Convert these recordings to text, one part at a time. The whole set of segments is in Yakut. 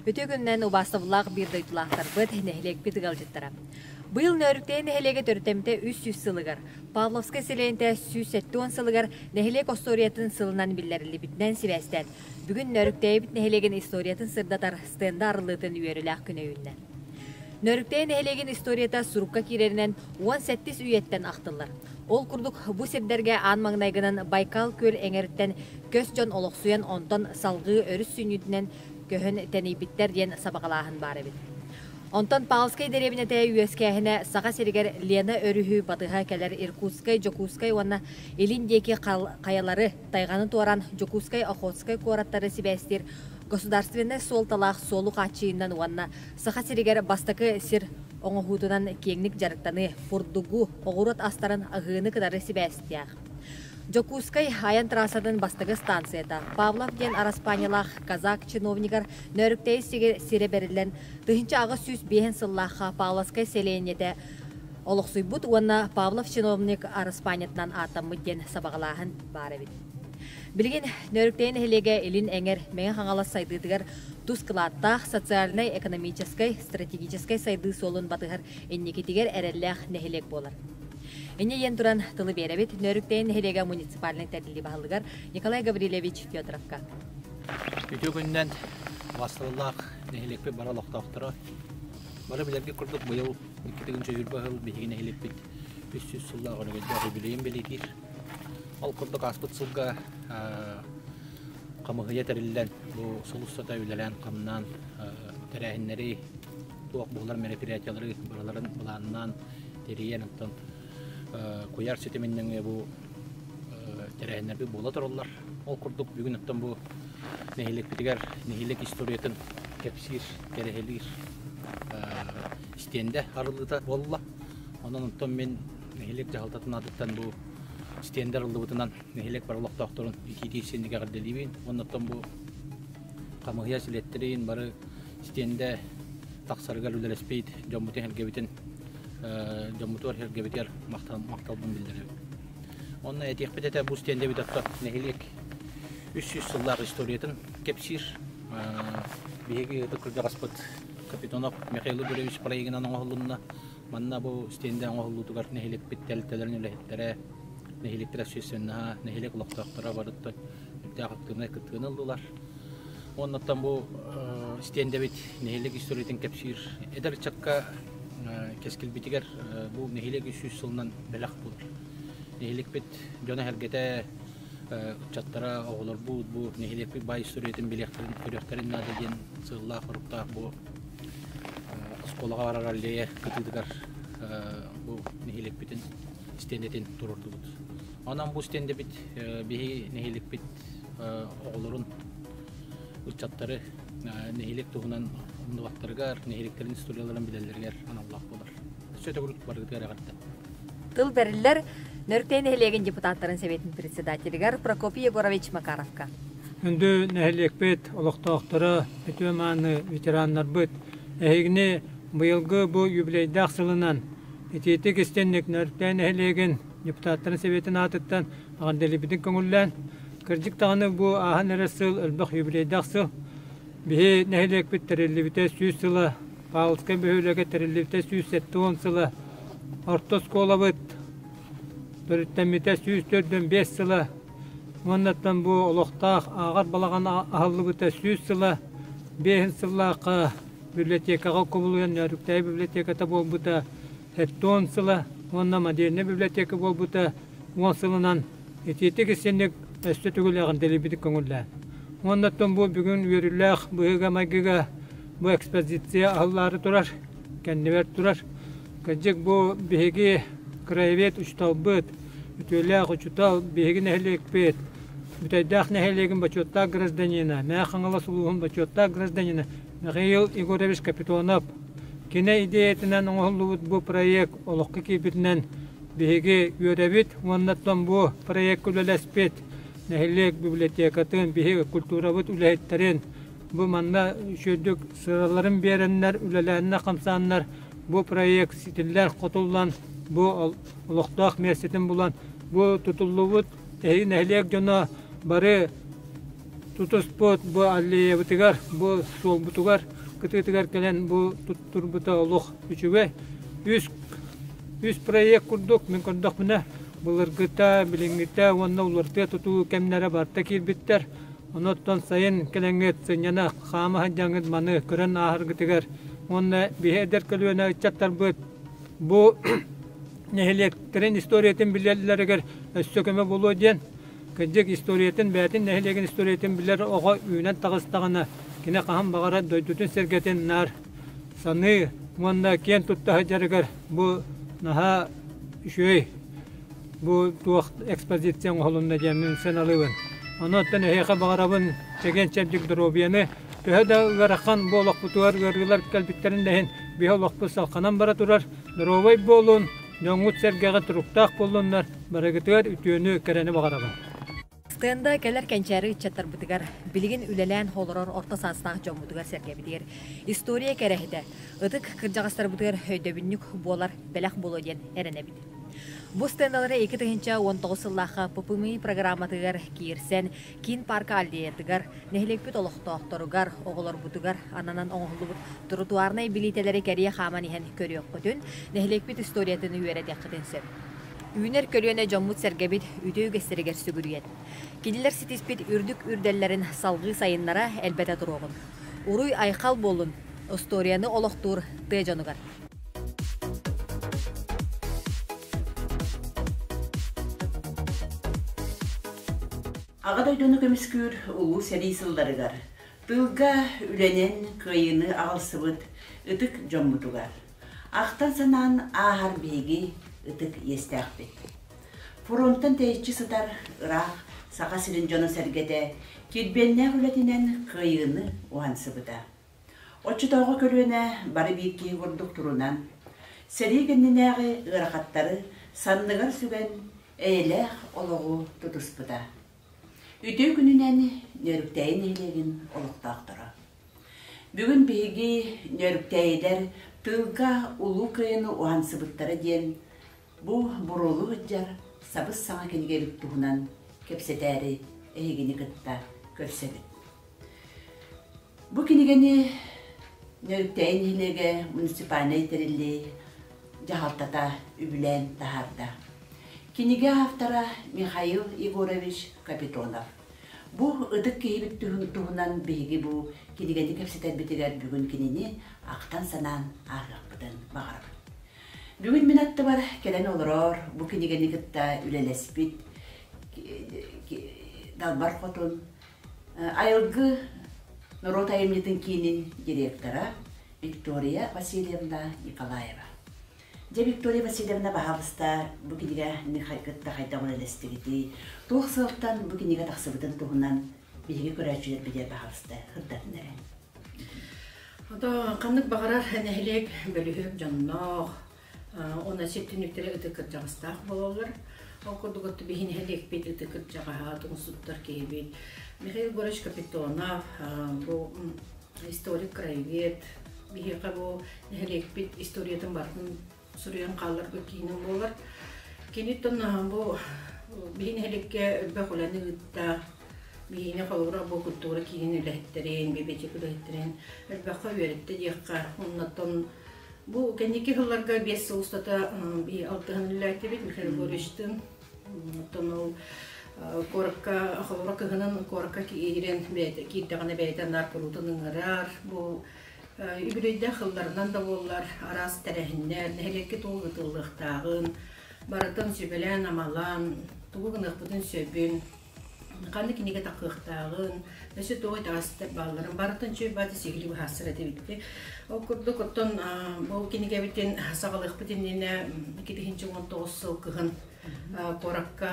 Үтүө күннэн убаастабыллаах биир дойдулаахтарбыт, нэһилиэкпит ыалдьыттара. Быйыл Нөөрүктэй нэһилиэгэ төрүтэмтэ үс сүүс сылыгар, Павловскай сэлиэнтэ сүүс сэттэ уон сылыгар нэһилиэк остуоруйатын сылынан биллэриллибитинэн сибээстээн, Бүгүн Нөрүктэйбит нэһилиэгин историятын сырдатар стенда арыллыытын үөрүүлээх күн өйүннэ. Нөрүктэй нэһилиэгин историята сурукка киирэринэн уон сэттис үйэттэн ахтыллар. Ол курдук бу сирдэргэ аан маҥнайгынан Байкал күөл эҥэриттэн көс дьон олохсуйан, онтон салгыы өрүс сүнньүтүнэн көһөн тэнийбиттэр диэн сабаҕалааһын баар эбит. Онтон Павлскай дэриэбинэтэ үөскээһинэ Саха сиригэр Лена өрүһү батыһа кэлэр Иркутскай, Дьокуускай уонна Илин диэки хайалары тайҕаны туоран Дьокуускай Охотскай куораттары сибээстиир государственнай суолталаах суолу хааччыйыынан уонна Саха сиригэр бастакы сир оҥоһуутунан киэҥник дьарыктаныы, бурдугу, оҕуруот астарын аһыыны кытары сибээстээх. Дьокуускай айан трассатын бастакы станцията Павлов диэн араспаанньалаах казак чиновнигар Нөөрүктэйи сирэ бэриллэн, тыһыынча аҕыс сүүс биэһин сыллаахха Павловскай сэлиэнньэтэ олохсуйбут уонна Павлов чиновник араспаанньатынан ааттаммыт диэн сабаҕалааһын баар эбит. Билигин Нөөрүктэнэ нэһилиэгэ Илин эҥэр Мэҥэ Хаҥалас сайдыытыгар тус кылааттаах социальнай-экономическай, стратегическай сайдыы суолун батыһар инникитигэр эрэллээх нэһилиэк буолар. Инньэ диэн туран тылы биэрэбит Нөөрүктэнэ нэһилиэгэ муниципальнай тэриллии баһылыгар Николай Гаврилевич Петровка. Үтүө күнүнэн бастылылаах нэһилиэкпит бара олохтоохторо Бары билэргит курдук, быйыл икки төгүл дьөгүрбэ ыһыл биһиги нэһиликпит үс сүүс сыллаах өнөбүлдээх үбүлүөйүн бэлиэтиир. Ол курдук ааспыт сылга хамыһыйа тэриллэн, бу сыл устата үлэлээн-хамнаан тэрээһиннэри, туох буолар мероприятиялары барыларын былааннаан тэрийэн, оттон куйаар ситимин нөҥүө бу тэрээһиннэрбит буола тураллар. Ол курдук бүгүн оттон бу нэһилиэкпитигэр нэһилиэк историятын кэпсиир, кэрэһилиир стендэ арыллыыта буолла. Онон оттон мин нэһилиэк дьаһалтатын аатыттан бу стендэр арыллыбытынан нэһилиэк бары олохтоохторун итиитии сиэнники эҕэрдэлиибин уонна оттон бу хамыһыйа силиэттэрин бары стендэ тахсарыгар үлэлэспит дьоммутун-сэргэбитин дьоммутугар сэргэбитигэр махталбын биллэрэбин онно этиэхпит этэ бу стендэбит отто нэһилиэк үс сүүс сыллаах историятын кэпсиир биһиги ытык кырдьаҕаспыт капитанов михаил игоревич проегинан оҥоһулунна манна бу стендэ оҥоһуллуутугар нэһилиэкпит тэлтэлэрин үлэһиттэрэ нэһилиэктэрэ сүүссэннаһа нэһилиэк олохтоохторо барытта үрдээх актыыбынай кыттыыны ыллылар Уоннаттан бу стендэбит нэһилиэк историятын кэпсиир эдэр ыччакка кэскилбитигэр бу нэһилиэк үс сүүс сылынан бэлэх буут. Нэһилиэкпит дьоно-сэргэтэ ыччаттара оҕолорбут бу нэһилиэкпит бай историятын билиэхтэрин көрүөхтэрин наада диэн сыыллаах-соруктаах бу оскуолаҕа барар аллея кытыытыгар бу нэһилиэкпитин стендэтин туруордубут. Онон бу стендэбит биһиги нэһиликпит оҕолорун, ыччаттары нэһилиэк туһунан умнубаттарыгар, нэһилиэктэрин историяларын билэллэригэр аналлаах буолар. Өссө төгүрүк барыытыгар эҕэрдэ. Тыл бэриллэр Нөртэй нэһилиэгин депутаттарын сэбиэтин председателигэр Прокопий Егорович Макаровка. Күндү нэһилиэкпит олохтоохторо, үтүө-мааны ветераннарбыт, эһигини быйылгы бу юбилейдаах сылынан итиитик истинник Нөртэй нэһилиэгин депутаттарын Сэбиэтин аатыттан Аҕардэлибитин көҥүллээн, кырдьык даҕаны бу ааһан эрэр сыл элбэх юбилейдаах сыл. Биһи нэһилиэкпит тэриллибитэ сүүс сыла, Павловскай бөһүөлэгэ тэриллибитэ сүүс сэттэ уон сыла, орто оскуолабыт төрүттэммитэ сүүс төрдөн биэс сыла, уоннаттан бу олохтоох ааҕар балаҕан аһыллыбыта сүүс сыла, биэһин сыллаахха библиотекаҕа кубулуйан Нөөрүктэйи библиотеката буолбута Сэттион сыла уонна модельнай библиотека буолбута уон сылынан итиитик истинник өссө түгүлэҕин дэлийбитик көҥүллээн. Уонна бу бүгүн үөрүүлээх быһыыга-майгыга бу экспозиция аһыллаары турар, кэннибэр турар. Кырдьык бу биһиги краевед учууталбыт, үтүөлээх учуутал, биһиги нэһилиэкпит, Бүтэйдээх нэһилиэгин бочуоттаах гражданина, Мэхэ Хаҥалас улууһун бочуоттаах гражданина Михаил Егорович Капитонов кини идеятынан оҥоһуллубут бу проект олоххо киирбитинэн биһиги үөрэбит уонна Томбуо проекка үлэлэспит нэһилиэк библиотекатын, биһиги культурабыт үлэһиттэрин бу манна үчүгдүк сыраларын биэрэннэр, үлэлэһэннэр, хамсааннар бу проект ситиллэр, хотуллан, бу олохтоох миэстэтин булан, бу тутуллубут Эһи нэһилиэк дьоно бары тутуспут бу аллеябытыгар, бу суолбутугар, кытыытыгар кэлэн бу туттурбута олох үчүгэй. Үс, үс проект курдук, мин көрдөхпүнэ, былыргыта, билиҥҥитэ уонна уларытыа тутуу кэмнэрэ барта киирбиттэр. Онуттан сайын кэлэҥҥит сынньана хаама сылдьаҥҥыт маны көрөн ааһаргытыгар уонна биһи эдэр көлүөнэ ыччаттарбыт бу нэһилиэктэрин историятын билэллэригэр өссө көмө булуо диэн кырдьык историятын бэйэтин нэһилиэгин историятын билэр оҕо үүнэн таҕыстаҕына кини хаһан баҕарар дойдутун сэргэтин наар саныы уонна киэн тутта сылдьарыгар бу наһаа үчүгэй бу туох экспозиция оҥоһулунна диэммин сыаналыыбын онуоттан эһиэхэ баҕарабын чэгиэн-чэбдик доруобуйаны төһө да ыарахан бу олохпутугар ыарыылар кэлбиттэрин да иһин биһи олохпут салҕанан бара турар Доруобай буолун, дьоҥҥут сэргэҕит туруктаах буоллуннар, барыгытыгар үтүөнү, кэрэни баҕарабын. Стенда кэлэр кэнчээри ыччаттарбытыгар, билигин үлэлээн олорор орто саастаах дьоммутугар-сэргэбитигэр история кэрэһитэ, ытык кырдьаҕастарбытыгар өйдөбүнньүк буолар бэлэх буолуо диэн эрэнэбит. Бу стендалары икки тыһыынча уон тоҕус сыллаахха ППМИ программатыгар киирсэн, Киин паарка аллеятыгар, нэһилиэкпит олохтоохторугар, оҕолорбутугар ананан оҥоһуллубут тротуарнай билиитэлэри кэрийэ хааман иһэн көрүөххүтүн, нэһилиэкпит историятын үөрэтиэххитин сөп. Үүнэр көлүөнэ дьоммут-сэргэбит үтүө үгэстэригэр сүгүрүйэн, кинилэр ситиспит үрдүк үрдэллэрин салгыы сайыннара элбэтэ туруоҕун. Уруй-айхал буоллун, остуоруйаны олохтуур тыа дьонугар! Аҕа дойдуну көмүскүүр улуу сэрии сылларыгар тылга үлэнэн кыайыыны аҕалсыбыт ытык дьоммутугар ахтан-санаан ааһар биһиги ытык иэстээхпит. Фронтан тэйиччи сытар ыраах Саха сирин дьоно-сэргэтэ килбиэннээх үлэтинэн кыайыыны уһансыбыта. Оччотооҕу көлүөнэ бары биир киһи курдук турунан, сэрии кэннинээҕи ыарахаттары санныгар сүгэн, эйэлээх олоҕу тутуспута. Үтүө күнүнэн Нөөрүктээйи нэһилиэгин олохтоохторо. Бүгүн биһиги Нөөрүктээйилэр тыылга Улуу Кыайыны уһансыбыттара диэн бу буруолуу сылдьар сабыс-саҥа кинигэ илик туһунан кэпсэтээри эһигини кытта көрсөбүт. Бу кинигэни Нөрүктэйин нэһилиэгэ муниципальнай тэриллии дьаһалтата үбүлээн таһаарда. Кинигэ автора Михаил Егорович Капитонов. Бу ытык киһибит туһунан биһиги бу кинигэни кэпсэтэрбитигэр бүгүн кинини ахтан-санаан ааһыахпытын баҕарабыт. Бүгүн мин аттыбар кэлэн олороор бу кинигэни кытта үлэлэспит Далбар Хотун Айылгы норуот айымньытын киинин директора Виктория Васильевна Николаева. Дьэ, Виктория Васильевна баһаалыста бу кинигэ кытта хайдах үлэлэстигитий, туох сыалтан бу кинигэ тахсыбытын туһунан биһиги көрөөччүлэр билэр баһаалыста сырдатын эрэ. Ханнык баҕарар нэһилиэк бөлүһүөк дьонноох, Уна сир түнүктэрэ ыты кырдьаҕастаах бололлор. Ол курдук отту биһин нэһилиэкпит ыты кырдьаҕаһа тугусуттар киһибит Михаил Егорович Капитонов бу историк краевед биһиэхэ бу нэһилиэкпит историятын барытын суруйан хаалларбыт киинин буолар киниттэн бу биһи нэһиликке өлбөх үлэни ыытта биһиини холобура бу культура киинин үлэһиттэрин, бибитик үлэһиттэрин өлбөххө үөрүттэ диэххэ, оннаттан Бу кэнники сылларга биэс сыл устата алтыһыныллаатибит Михаил Григорьевичтыын оттон ол куоракка холоро кыһынын куоракка киирэн бэйэтэ киирдэҕинэ бэйэтэ наар куруутун ыҥырар бу үбүлүйдээх сылларынан да буоллар араас тэрээһиннэр нэһилиэккэ тугу ыытыллыахтааҕын барытын сүбэлээн амалаан тугу гыныахпытын сөбүн ханна кинигэ такыахтааҕын, өссө тоҕо итэҕэстэр баалларын барытын чөл баата сигили быһаарсар этэ эбиппи. Ол курдук оттон бу кинигэбитин саҕалыахпыт иннинэ 2019 сыл кыһын куоракка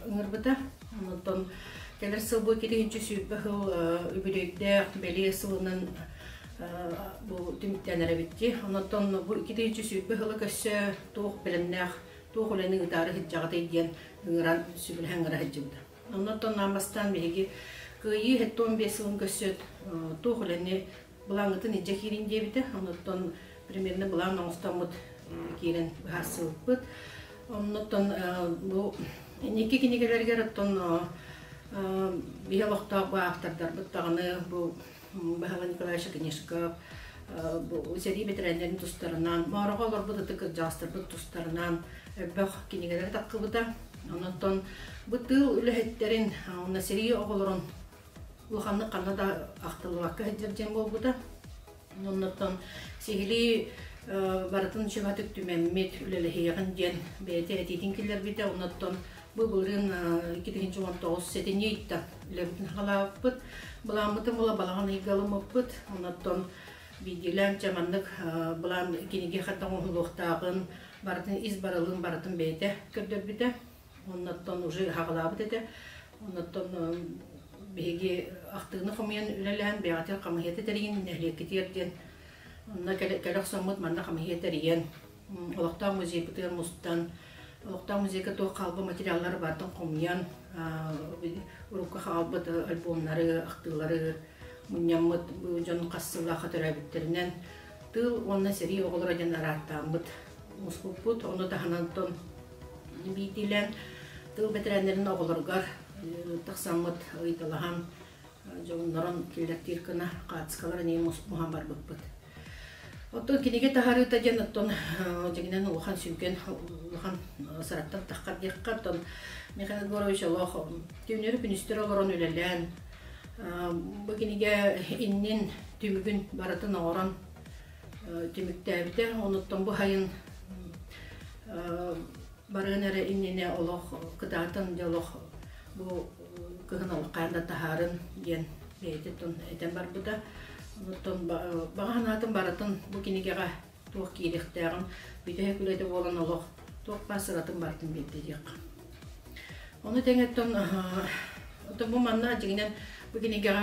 ыҥырбыта. Оттон кэлэр сыл бу 2 сүүрбэ сыл үбүлүөйдээх бэлиэ сылынан бу түмүктэнэр эбитти. Онон бу 2 сүүрбэ сылы көрсө туох бэлэмнээх туох үлэни ыытаары сылдьаҕытый диэн ыҥыран сүгүрһэ ыҥыра сылдьыбыта. Онно оттоннаан бастаан биһиги кыайыы тоон биэс сылын көрсүөт туох үлэни былааҥҥытын илдьэ киирин диэбитэ. Онуттан примерно былаан оҥостоммут киирэн быһаарсыбыппыт. Оннуттан бу инники кинигэлэригэр оттон биһи олохтоох бу автордарбыт даҕаны бу Баһава Николаевича Конешков, сэрии бэтэрээннэрин тустарынан, Мороҕо олорбут ытык кырдьаастарбыт тустарынан өрбөх кинигэлэри таххыбыта. Онон бу тыыл үлэһиттэрин уонна сэрии оҕолорун улаханнык ханна да ахтыллыбакка сылдьар диэн буолбута. Оннуттан сиһилии барытын сүбэтик түмэммит, үлэлэһиэҕин диэн бэйэтэ этиитин киллэрбитэ. Оннуттан Бу былырын икки тыһынчы он тоҕус сэтинньи ыйда үлэбит нагалааппыт. Былааммытын була балаҕан ыйгаламмыппыт. Оннотон биирдиилээн чэ маннык былаан кинигэ хатта оҥоһулуохтааҕын барытын ис барылын барытын бэйэтэ көрдөрбүтэ. Оннотон уже хагалаабыт этэ. Оннотон биһиги ахтыыны хомуйан үлэлээн бэйэҕитин хамыһыйата тэригин нэһилиэккитиэр диэн онно кэлэ охсоммут манна хамыһыйа тэрийэн олохтоох музейбытыгар мустан олохтоох музейга туох хаалба материаллары баартан хомуйан урукка хаалбыт альбомнары ахтыылары мунньаммыт дьон хас сыллаахха төрөөбүттэринэн тыл уонна сэрии оҕолоро диэн арааттааммыт муспуппут ону таһынан биирдиилээн тыл бэтэрээннэрин оҕолоругар тахсаммыт ыйыталаһан дьоннорун күөлэктиир кына хаацкалар эни муһан барбыппыт. Оттон киниге таһарыыта диэн оттон дегинен улахан сүнкен улахан сараттан тахкар диэххэ оттон Михаил Егорович олох түүнөрү күнүстөр олорон үлэлээн бу киниге иннин түмүгүн барытын оҥорон түмүктээбитэ онуттан бу хайын барыан эрэ иннинэ олох кытаатан дьэ олох бу кыһын олох хаан да таһаарын диэн бэйэтэ тон этэн барбыта оттон баҕа санаатын барытын бу кинигэҕэ туох киириэхтээҕин бүтэһик үлэтэ буолан олох туох баар сыратын барытын биэрдириэх ону тэҥэттэн оттон бу манна дьиҥинэн бу кинигэҕэ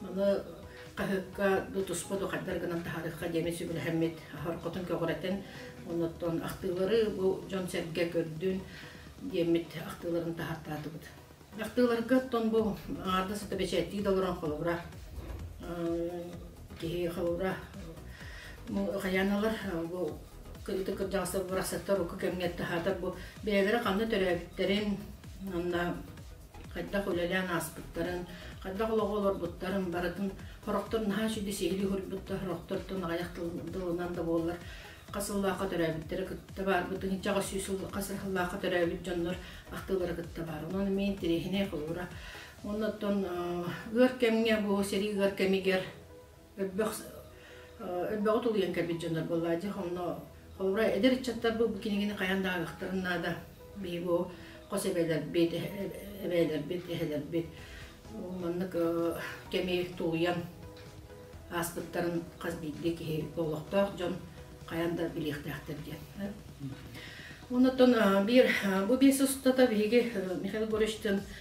Маны хаһыкка до туспа духайдар гынан таһарыхха диэми сүгүрһэммит хоркотун көҕүрэтэн, оннуттан ахтыылары бу дьон-сэргэ көрдүн диэммит ахтыыларын таһартаатыбыт. Ахтыыларга оттон бу аҥаардас это бэчээттии да олорон холобура киһи холобура хайаналар бу кырыыта кырдьаҕастар барахсаттар уку кэмҥэ таһаатар бу бэйэлэрэ ханна төрөөбүттэрин анна хайдах үлэлээн ааспыттарын, хайдах олоҕу олорбуттарын барытын хорохтор наһаа сүдү сиһилии уһуйбуттар, хорохтортон аҕыйах тылынан да буоллар хас сыллаахха төрөөбүттэрэ кытта баарбытын ичаҕа сүүс сыл хас сыллаахха төрөөбүт дьоннор ахтыылара кытта баар. Онон эмиэ интэриэһинэй холуура. Оннуттан ыар кэмҥэ бу сэрии ыар кэмигэр Өрбөх өрбөҕү тулуйан кэлбит дьоннор буолла дьэ онно холобура эдэр ыччаттар бу бу кинигини хайан да ааҕыктарын наада биһи бу хос эбээлэрбит эбээлэрбит эһэлэрбит маннык кэми тулуйан ааспыттарын хас биирдии киһи олохтоох дьон хайан да билиэхтээхтэр диэн оннуттан биир бу биэс устата биһиги Михаил Егоровичтыын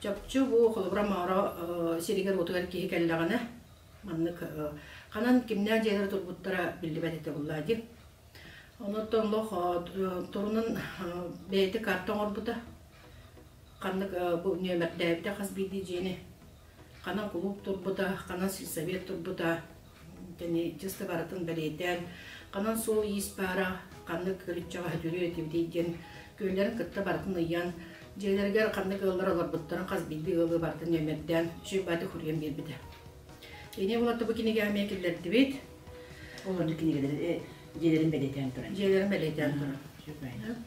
Чопчу бу холобура маара сиригэр-уотугар киһи кэллэҕинэ, маннык ханан кимнээх дьиэлэр тургуттара биллибэт этэ буллаа дии. Онуттан олох турунан бэйэтэ карта оҥорбута. Ханнык бу нөмердээбитэ хас биирдии дьиэни. Ханан кулууп турбута, ханан сельсовет турбута, тэни чыста барытын бэлиэтээн ханан суол иис баара ханнык өлүччэҕэһэ дүрү этибитий диэн күөллэрин кытта барытын ыйан дьиэлэригэр ханнык ыаллар олорбуттарын хас биирдии ыалы барытын нөмөрдөөн сүбэти хуруйан биэрбитэ Ини болотто бу кинигэме киллердибит. Олорду кинигелерин дьиэлерин бэлиэтээн туран. Дьиэлерин бэлиэтээн туран.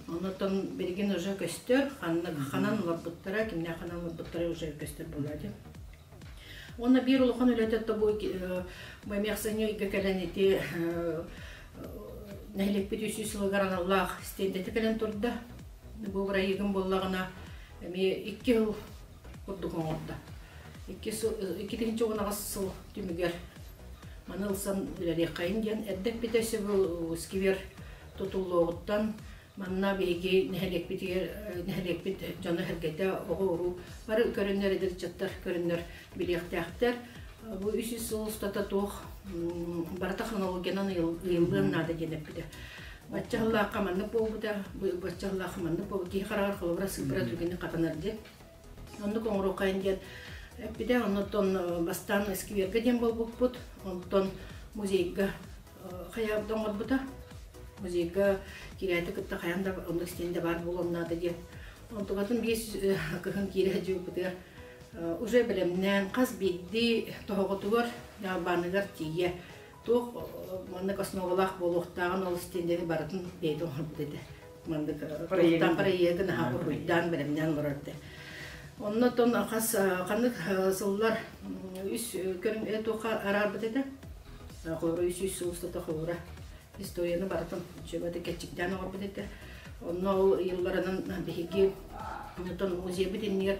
Оннотон берегин уже көстөр, ханнан олорбуттара, кимне ханан олорбуттара уже көстөр болады. Уонна биир улахан үлэтэ тобу мэмиэхсэни ыйга кэлэн ити нэһиликпит үс сүүс сылыгар аналлаах стендete кэлэн турда. Бу бырайыгым боллагына эми икки сыл курдук оңорда. Икки сыл иккитинчи унаҕас сыл түмүгэр маны ылсан үлэлиэххэйин диэн эрдек бите сөбүл сквер тутуллуоҕуттан Манна биһиги нэһилиэкпитигэр нэһилиэкпит дьоно-сэргэтэ оҕо-уруу бары көрөннөр эдэрчаттар көрөннөр билиэхтээхтэр. Бу үс сыл устата туох барыта хронологиянан ыйыллыан наада диэн эппитэ. Бачча ханнык буолбута, бачча ханнык буолбута киһи хараҕар холобура сыппыра түргэнник хатанар диэн Оннук оҥоруоххайын диэн эппитэ, оннуттан бастаан эскиверга диэн буолбуппут, онтон музейга хайаабда оҥорбута. Музейга киирээти кытта хайаан да оннук истиэнэ баар буолуом наада диэн. Онтукатын биэс кыһын киирэ садьыыппытыгар уже бэлэмнээн хас биирдии тоһоҕотугар, ньалбааныгар тиийэ Туох маннык основалаах буолуохтааҕын ол стендeni барытын бэйэтэ оҥорбут этэ. Маннык туохтаахтар эйиэгин аһа уруйдаан бэлэмнээн олорор этэ. Онно тон хас ханнык сыллар үс көрүҥ туохха араарбыт этэ? Үс үс сыл устата холура историяны барытын чөбөтө кэччиктээн оҥорбут этэ. Онно ол ыйылларынан биһиги оттон музейбыт иннигэр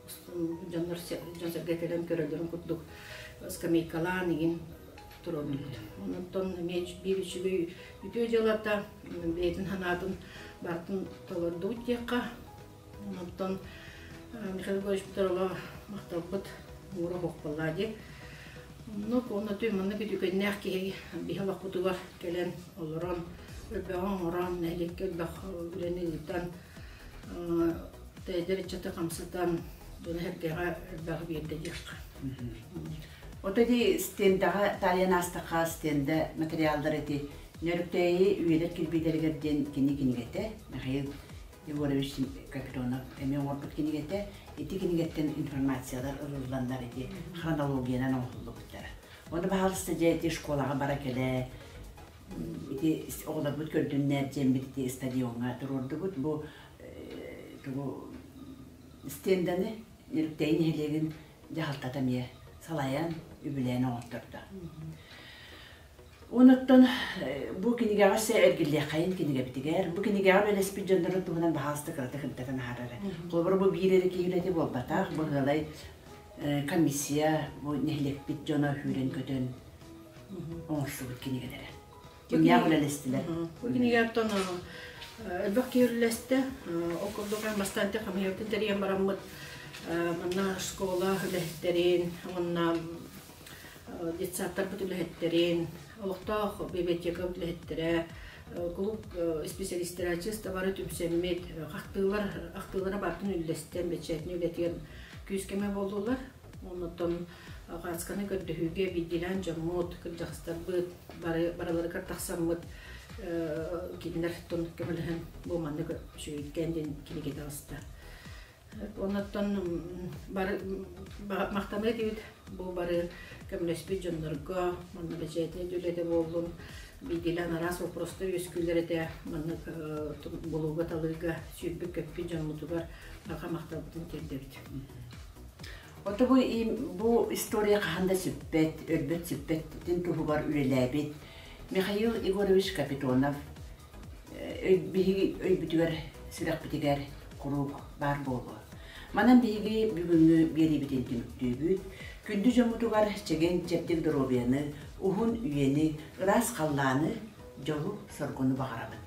дьоннор дьон-сэргэ кэлэн көрөлөрүн курдук скамейкалаан игин туруордулар. Онтон эмиэ биир үчүгэй үтүө дьыалата бэйэтин санаатын бартын толордубут диэххэ. Онтон Михаил Егорович Петрова махталбыт муура хохпаллаа дии. Оннук уонна tuy маннык үтүкэннээх киһи биһэ бакпытыгар кэлэн олорон өрбөҕө оҥорон нэһилиэккэ өрбөх үлэни ыытан Тэйдэр ыччаты хамсатан, тула хэргэҕэ элбэҕи биэрдэ диэххэ. Ото ди стендаҕа таайан аастахха стенда материалдар эти нөрүктээйи үйэлэр кирбиидэригэр диэн кини кинигэтэ Михаил Егорович Капитонов эмиэ оҥорбут кинигэтэ ити кинигеттэн информациялар ылылланнар ити хронологиянан оҥоһуллубуттара. Ону баһаалыста дьэ ити школаҕа бара кэлээ Ити оҕолорбут көрдүннээт дьиэмбит ити стадиоҥҥа туруордубут. Бу тугу стенданы Ньуруктэй нэһилиэгин дьаһалтата эмиэ салайан, үбүлээн оҥоттордо. Онуттан бу кинигэҕэ өссө эргиллиэххэйин кинигэбитигэр. Бу кинигэҕэ бэлэспит дьоннорун туһунан баһаалыста кыратык ынтатан аһарара. Холобура бу биир эрэ киһи үлэтэ буолбатах, быһыылай комиссия бу нэһилиэкпит дьоно үүрэн-көтөн оҥорсубут кинигэлэрэ. Күннээх үлэлэстилэр. Бу кинигэтэн элбэх киһи үлэлэстэ. Ол курдук эн бастаан те хамыйартын тэрийэн бараммыт манна школа үлэһиттэрин, уонна детсадтарбыт үлэһиттэрин, олохтоох библиотека үлэһиттэрэ, кулук исписэлистэрэ чыстабары түмсэммит, ахтыылар ахтыылара бартын үллэстэн, бэчээтин үлэтиэн күүскэме буоллулар. Оннуттан хаацканы көрдөһүүгэ биирдиилээн дьоммут, кырдьахтарбыт бары барыларыгар тахсаммыт кинилэртон көмөлөһөн бу маннык сүөйүттээн диэн кинигэ таҕыста. Оннуттан бары махтаныа диэбит бу бары көмөлөспүт дьоннорго, манна бэчээтинэй үлэтэ буоллун, биирдиилээн араас вопросто үөскүүлэр этэ маннык булууга-талыыга сүүрбүт-көппүт дьоммутугар аха махталбытын тиэрдэбит. Ото бу, бу история хаһан да сүппэт, өлбөт сүппэттин туһугар үлэлээбит Михаил Егорович Капитонов биһиги өйбүтүгэр, сүрэхпитигэр куруук баар буолуо. Манан биһиги бүгүҥҥү биэриибитин түмүктүүбүт. Күндү дьоммутугар чэгиэн-чэбдик доруобуйаны, уһун үйэни, ыраас халлааны, дьолу, соргуну баҕарабын.